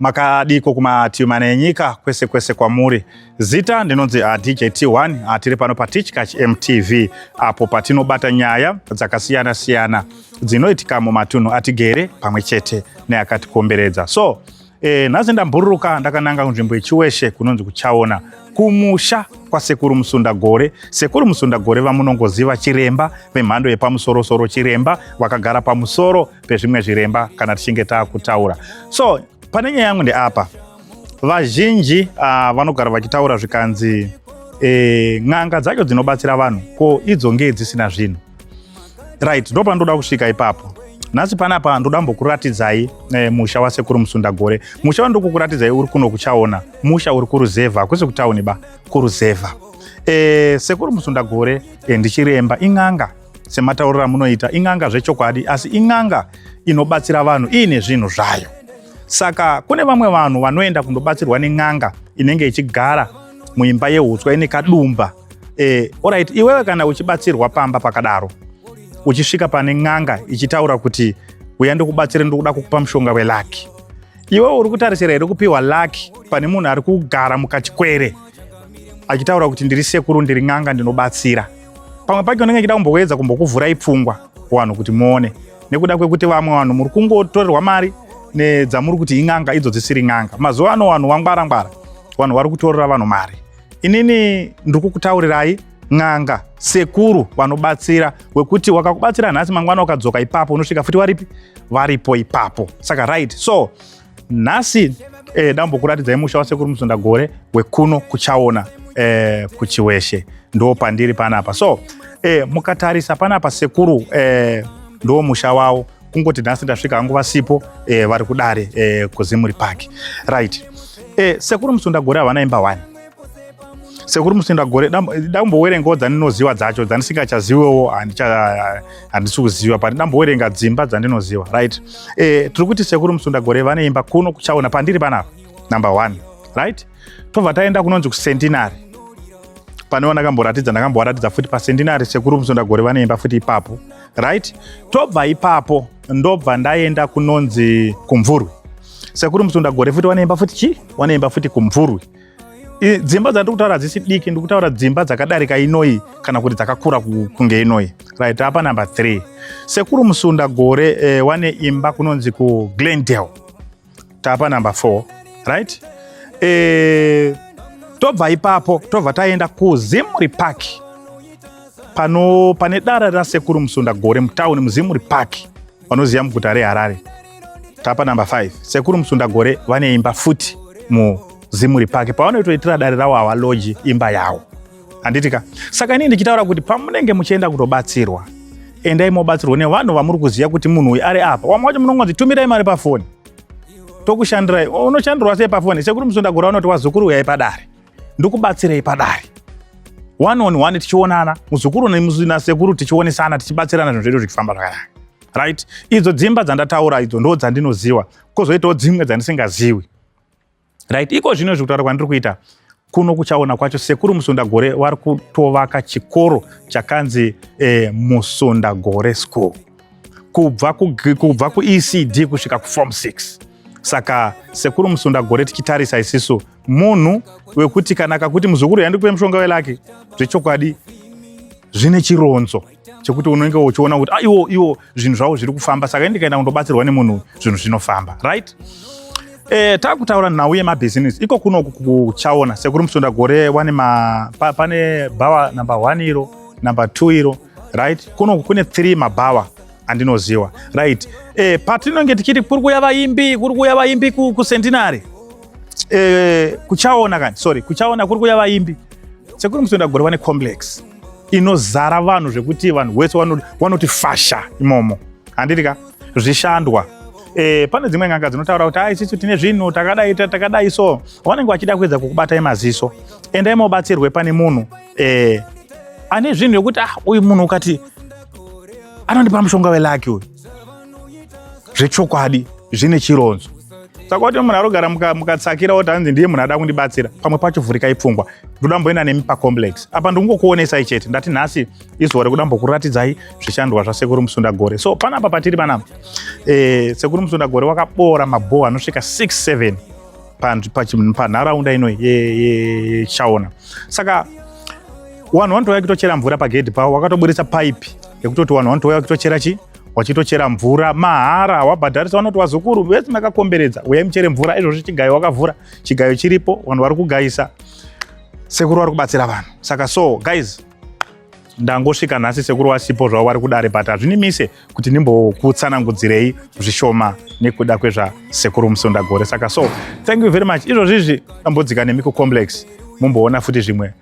makadiko kumativi mana enyika kwese kwese kwamuri zita ndinonzi ah, djt1 ah, tiri pano patichkach mtv apo patinobata nyaya dzakasiyana siyana dzinoitika mumatunhu atigere pamwe chete neakatikomberedza so e, nhasi ndambururuka ndakananga kunzvimbo yechiweshe kunonzi kuchaona kumusha kwasekuru musunda gore sekuru musunda gore vamunongoziva chiremba vemhando yepamusorosoro chiremba vakagara pamusoro pezvimwe zviremba kana tichinge takutaura so pane nyaya yangu ndeapa vazhinji uh, vanogara vachitaura zvikanzi e, n'anga dzacho dzinobatsira vanhu ko idzo ngee dzisina zvinhu right ndo pandoda kusvika ipapo nhasi panapa ndoda mbokuratidzai e, musha wasekuru musundagore musha wandiri kukuratidzai uri kuno kuchaona musha uri kuruzevha hakusi kutauni ba kuruzevha e, sekuru musundagore e, ndichiremba in'anga sematauriro amunoita in'anga zvechokwadi asi in'anga inobatsira vanhu iine zvinhu zvayo saka kune vamwe vanhu vanoenda kundobatsirwa nen'anga inenge ichigara muimba yeutswa ine kadumba e, eh, orit iwewe kana uchibatsirwa pamba pakadaro uchisvika pane n'anga ichitaura kuti uya ndikubatsire ndikuda kukupa mushonga welaki iwewe uri kutarisira here kupiwa laki pane munhu ari kugara mukachikwere achitaura kuti ndiri sekuru ndiri n'anga ndinobatsira pamwe pacho ndenge chida kumboedza kumbokuvhurai pfungwa kuvanhu kuti muone nekuda kwekuti vamwe vanhu muri kungotorerwa mari nedzamuri kuti in'anga idzo dzisiri n'anga mazuva ano vanhu vangwara ngwara vanhu vari kutorera vanhu mari inini ndiri kukutaurirai n'anga sekuru vanobatsira wekuti wakakubatsira nhasi mangwana ukadzoka ipapo unosvika futi waripi varipo ipapo saka right so nhasi eh, dambokuratidzai musha wasekuru musundagore wekuno kuchaona eh, kuchiweshe ndo pandiri panapa so eh, mukatarisa panapa sekuru eh, ndo musha wavo kungoti nhasi ndasvika hangu vasipo eh, vari kudare eh, kuzimuri park right eh, sekuru musundagore havana imba wani sekuru musenda gore dambowerengawo dzandinoziva dzacho dzandisingachazivewo handisi kuziva but dambowerenga dzimba dzandinoziva right e, tiri kuti sekuru musunda gore vane imba kuno kuchaona pandiri panapa number one right tobva taenda kunonzi kucentinary pane vandakamboratidza ndakambovaratidza futi pacentinary sekuru musunda gore vane imba futi ipapo right tobva ipapo ndobva ndaenda kunonzi kumvurwi sekuru musunda gore futi vane imba futi chii vane imba futi kumvurwi dzimba dzandiri kutaura hadzisi diki ndiri kutaura dzimba dzakadarika inoyi kana kuti dzakakura kunge inoyi right apa number three sekuru musunda gore eh, wane imba kunonzi kuglendale tapa number four right eh, tobva ipapo tobva taenda kuzimri park pano pane dara rasekuru musunda gore mutauni muzimri park vanoziva muguta reharare tapa number 5 sekuru musundagore vane imba futi muzimuri pake pavanoitoitira dare ravo havaloji imba yavo handitika saka inii ndichitaura kuti pamunenge muchienda kutobatsirwa endai mobatsirwa nevanhu vamuri kuziva kuti munhu uyu ari apa wamwe wacho munongonzi tumirai mari pafoni tokushandirai unoshandirwa sei pafoni sekuru musundagore vanoti wazukuru uyai padare ndokubatsirei padare one on one tichionana muzukuru nasekuru tichionesana tichibatsirana zvinhu zvedu zvichifamba zvakanaka right idzo dzimba dzandataura idzo ndo dzandinoziva kozoitawo dzimwe dzandisingaziwi right iko zvino izvi kutaura kwandiri kuita kuno kuchaona kwacho sekuru musundagore vari kutovaka chikoro chakanzi eh, musundagore school kubva kubva kuecd kusvika kuform 6 saka sekuru musundagore tichitarisa isisu munhu wekuti kana akakuti muzukuru yandikupe mushonga welaki zvechokwadi zvine chironzo chekuti unenge uchiona kuti ah, iwo iwo zvinhu zvavo zviri kufamba saka ndikaenda kundobatsirwa nemunhu zvinhu zvinofamba right e, takutaura nhau yemabhizinesi iko kunoku kuchaona sekuri musunda gore wane ma, pa, pane bhawa numbe one iro numbe two iro right kunoku kune three mabhawa andinoziwa right e, patinonge tichiti kuri kuya vaimbi kuri kuya vaimbi kucentinary ku eh, kuchaona kani sorry kuchaona kuri kuya vaimbi sekuri musoenda gore vane complex inozara vanhu zvekuti vanhu wese wanoti fasha imomo handiti ka zvishandwa eh, pane dzimwe n'anga dzinotaura kuti ai sisi tine zvinhu takadai takadai so vanenge vachida kuedza kukubatai maziso endai mobatsirwe pane munhu eh, ane zvinhu zvekuti ah uyu munhu ukati anondipa mushonga welaki uyu zvechokwadi zvine chironzo saka kuti munhu arogara mukatsakira kuti hanzi ndiye munhu ada kundibatsira pamwe pacho vhurikai pfungwa ndoda mboenda nemi pacomplex apa ndingokuonesai chete ndati nhasi izuva rekuda mbokuratidzai zvishandwa zvasekuru musunda gore so panapa patiri panapa e, sekuru musunda gore wakaboora mabhoho anosvika 67 panharaunda ino yechaona saka vanhu vanotouya kutochera mvura pagedhi pavo wakatoburitsa paipi yekutoti vanhu vanotouya kutochera chii wachitochera mvura mahara wabhadharisa vanoti wazukuru vese makakomberedza uya muchere mvura izvozvi chigayo wakavhura chigayo chiripo vanhu vari kugayisa sekuru vari kubatsira vanhu saka so guys ndangosvika nhasi sekuru wasipo zvavo vari kudare but hazvinimise kuti ndimbokutsanangudzirei zvishoma nekuda kwezvasekuru musundagore saka so thank you very much izvozvizvi tambodzika nemi kucomplex mumboona futi zvimwe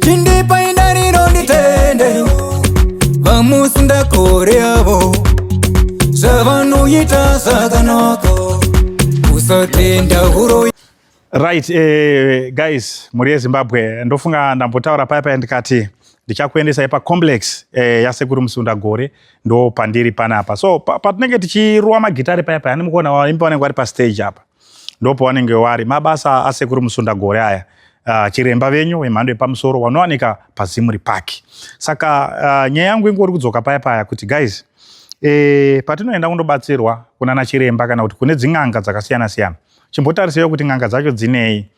chindipai ndariro nditende vamusi ndakore avo zvavanoita zvakanaka usatenda huroi right eh, guys mhuri yezimbabwe ndofunga ndambotaura paya paya ndikati ndichakuendesai pacomplex eh, yasekuru musunda gore ndo pandiri panapa so patinenge pa tichiruwa magitari paya paya andimukuona vaimbi vanenge vari pastage apa ndopo wanenge wari mabasa asekuru musunda gore aya uh, chiremba venyu wemhando yepamusoro wanowanika pazimuri park saka uh, nyaya yangu ingori kudzoka paya paya kuti guys e, patinoenda kundobatsirwa kunana chiremba kana kuti kune dzin'anga dzakasiyana siyana chimbotariseiwo kuti n'anga dzacho dzinei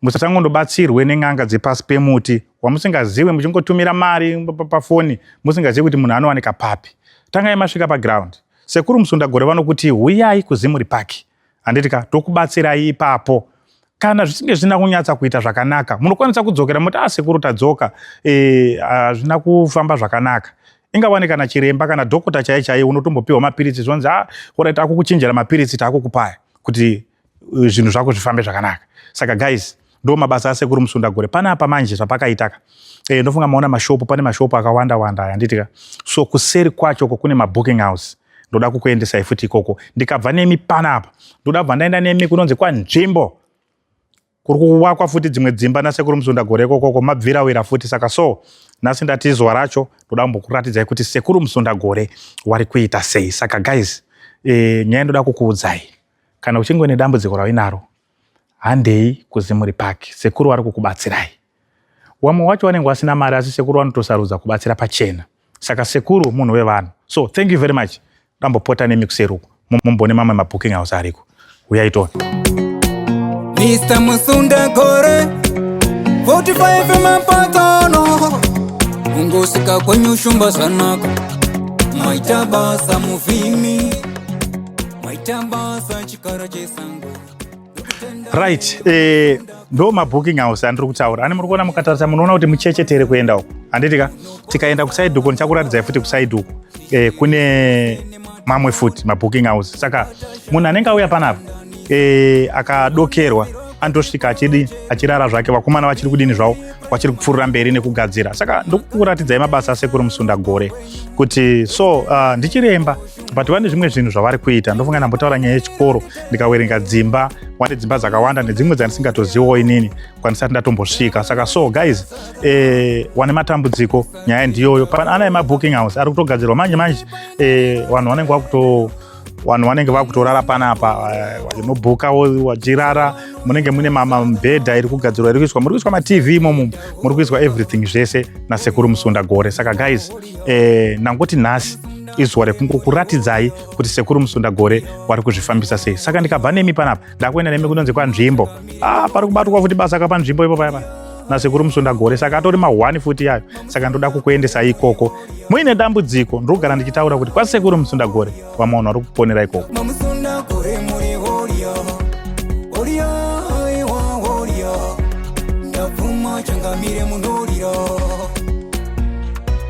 musatangondobatsirwe nen'anga dzepasi pemuti wamusingazive muchingotumira mari pafoni musingazivi kuti munhu anowanika papi tangai masvika paground pa Sekuru Musundagore vanokuti huyai kuZimuri Park handiti ka tokubatsirai ipapo kana zvichinge zvina kunyatsa kuita zvakanaka munokwanisa kudzokera moti asekuru ah, tadzoka eh, hazvina e, kufamba zvakanaka ingawane kana chiremba kana dhokota chaiye chaiye unotombopiwa mapiritsi zvonzi a ah, orit akukuchinjira mapiritsi taakukupaya kuti uh, zvinhu zvako zvifambe zvakanaka saka guys ndo mabasa asekuru musunda gore pane apa manje zvapakaitaka e, eh, ndofunga maona mashopu pane mashopu akawanda wanda aya nditika so kuseri kwacho ko kune mabooking house ndoda kukuendesai futi ikoko ndikabva nemi pana apa ndoda bva ndaenda nemi kunonzi kwanzvimbo kuri kuwakwa futi dzimwe dzimba nasekuru musunda gore ikokoko mabvira wira futi saka so nhasi ndati zuva racho ndoda kumbokuratidzai kuti sekuru musunda gore wari kuita sei saka guys e, nyaya ndoda kukuudzai Kana uchinge une dambudziko rauinaro, handei kuZimuri Park, sekuru vari kukubatsirai. Wamwe wacho wanenge wasina mari asi sekuru vanotosarudza kubatsira pachena. Saka sekuru munhu wevanhu. So thank you very much. Ndambopota nemi kuseri uku. Mumbone mamwe mabooking house ariko. Uyai tone. Mr. Musunda Gore 45 mapatano Ungosika kwenye ushumba zanako Maitabasa muvimi right eh, ndo mabooking house andiri kutaura ani muri kuona mukatarisa munoona kuti muchechetere kuenda uku handiti ka tikaenda kusaidi uko ndichakuratidzai futi kusaidi uku eh, kune mamwe futi mabooking house saka munhu anenge auya panapa eh, akadokerwa anotosvika achidi achirara zvake vakomana vachiri kudini zvavo vachiri kupfuurira mberi nekugadzira saka ndokukuratidzai mabasa asekuru musunda gore kuti so uh, ndichiremba but vane zvimwe zvinhu zvavari kuita ndofunga ndambotaura nyaya yechikoro ndikawerenga dzimba wani dzimba dzakawanda nedzimwe dzandisingatozivawo inini kwanisati ndatombosvika saka so guys eh, wane matambudziko nyaya ndiyoyo ana emabooking house ari kutogadzirwa manje manje eh, vanhu vanenge vakuto vanhu vanenge vakutorara panapa unobhuka eh, wachirara munenge mune mamibhedha iri kugadzirwa iri kuiswa muri kuiswa matv imomo muri kuiswa everything zvese nasekuru musunda gore saka guys eh, ndangoti nhasi izuva rekungokuratidzai kuti sekuru musunda gore wari kuzvifambisa sei saka ndikabva nemi panapa ndakuenda nemi kunonzi kwanzvimbo ah, pari kubatwa futi basa kapanzvimbo ipo paya paya nasekuru musunda gore saka atori mahwani futi yayo saka ndoda kukuendesa ikoko muine dambudziko ndiri kugara ndichitaura kuti kwasekuru musunda gore vamwe vanhu vari kuponera ikoko changamire munorira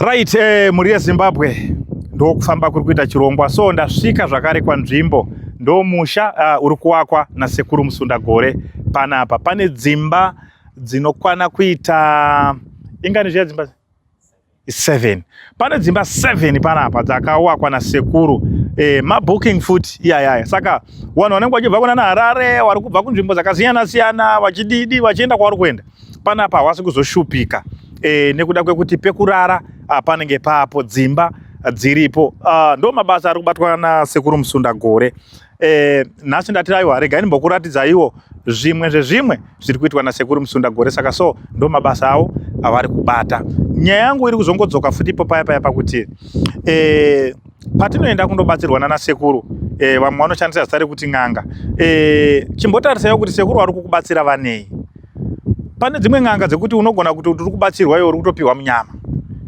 Right, eh, mhuri yeZimbabwe ndokufamba kuri kuita chirongwa so ndasvika zvakare kwanzvimbo ndomusha uh, ah, uri kuwakwa nasekuru Musundagore panapa pane dzimba dzinokwana kuita ingani zviya dzimba 7 pane dzimba 7 panapa dzakawakwa nasekuru eh, mabooking futi iyayaya saka vanhu vanenge vachibva kuna naharare vari kubva kunzvimbo dzakasiyana siyana vachididi vachienda kwavari kuenda panapa hawasi kuzoshupika e, nekuda kwekuti pekurara ah, panenge papo dzimba ah, dziripo ah, ndo mabasa ari kubatwa nasekuru musunda gore e, nhasi ndati aiwa regai ndimbokuratidzaiwo zvimwe zvezvimwe zviri kuitwa nasekuru musunda gore saka so ndo mabasa avo avari kubata nyaya yangu iri kuzongodzoka futi ipo paya paya pakuti e, patinoenda kundobatsirwa nana sekuru e, vamwe vanoshandisa zita rekuti n'anga e, eh, chimbotarisaiwo kuti sekuru vari kukubatsira vanei pane dzimwe n'anga dzekuti unogona kuti uri kubatsirwa iwe uri kutopiwa munyama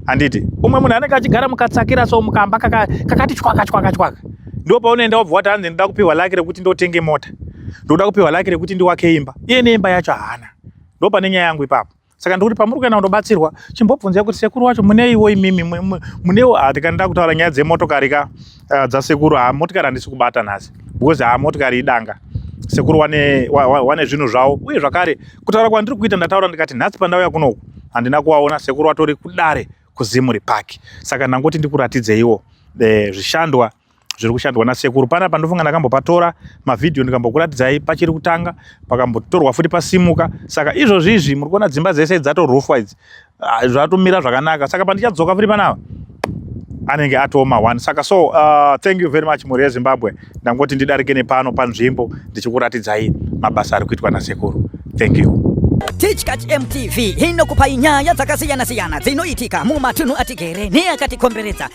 handiti umwe munhu anenge achigara mukatsakira so mukamba kakati chwaka chwaka chwaka ndo paunoenda wabva wati hanzi ndoda kupiwa laki rekuti ndotenge mota ndoda kupiwa laki rekuti ndiwake imba iye neimba yacho haana ndo pane nyaya yangu ipapo saka ndikuti pamuri kuenda kundobatsirwa chimbobvunzai kuti sekuru wacho muneiwo imimi muneiwo ah, ndikandida kutaura nyaya dzemotokari ka ah, dzasekuru ha ah, motikari handisi kubata nhasi because ha motikari idanga sekuru wane, wane zvinhu zvavo uye zvakare kutaura kwandiri kuita ndataura ndikati nhasi pandauya kunoku handina kuvaona sekuru vatori kudare kuzimuri park saka ndangoti ndikuratidzeiwo e, zvishandwa zviri kushandwa nasekuru panapa ndofunga ndakambopatora mavhidhiyo ndikambokuratidzai pachiri kutanga pakambotorwa futi pasimuka saka izvozvi izvi muri kuona dzimba dzese dzatorufwa idzi ah, zvatomira zvakanaka saka pandichadzoka futi panapa anenge atooma one saka so uh, thank you very much mhuri yezimbabwe ndangoti ndidarike nepano panzvimbo ndichikuratidzai mabasa ari kuitwa nasekuru thank you Tichkach MTV inokupai nyaya dzakasiyana-siyana dzinoitika mumatunhu atigere neakatikomberedza.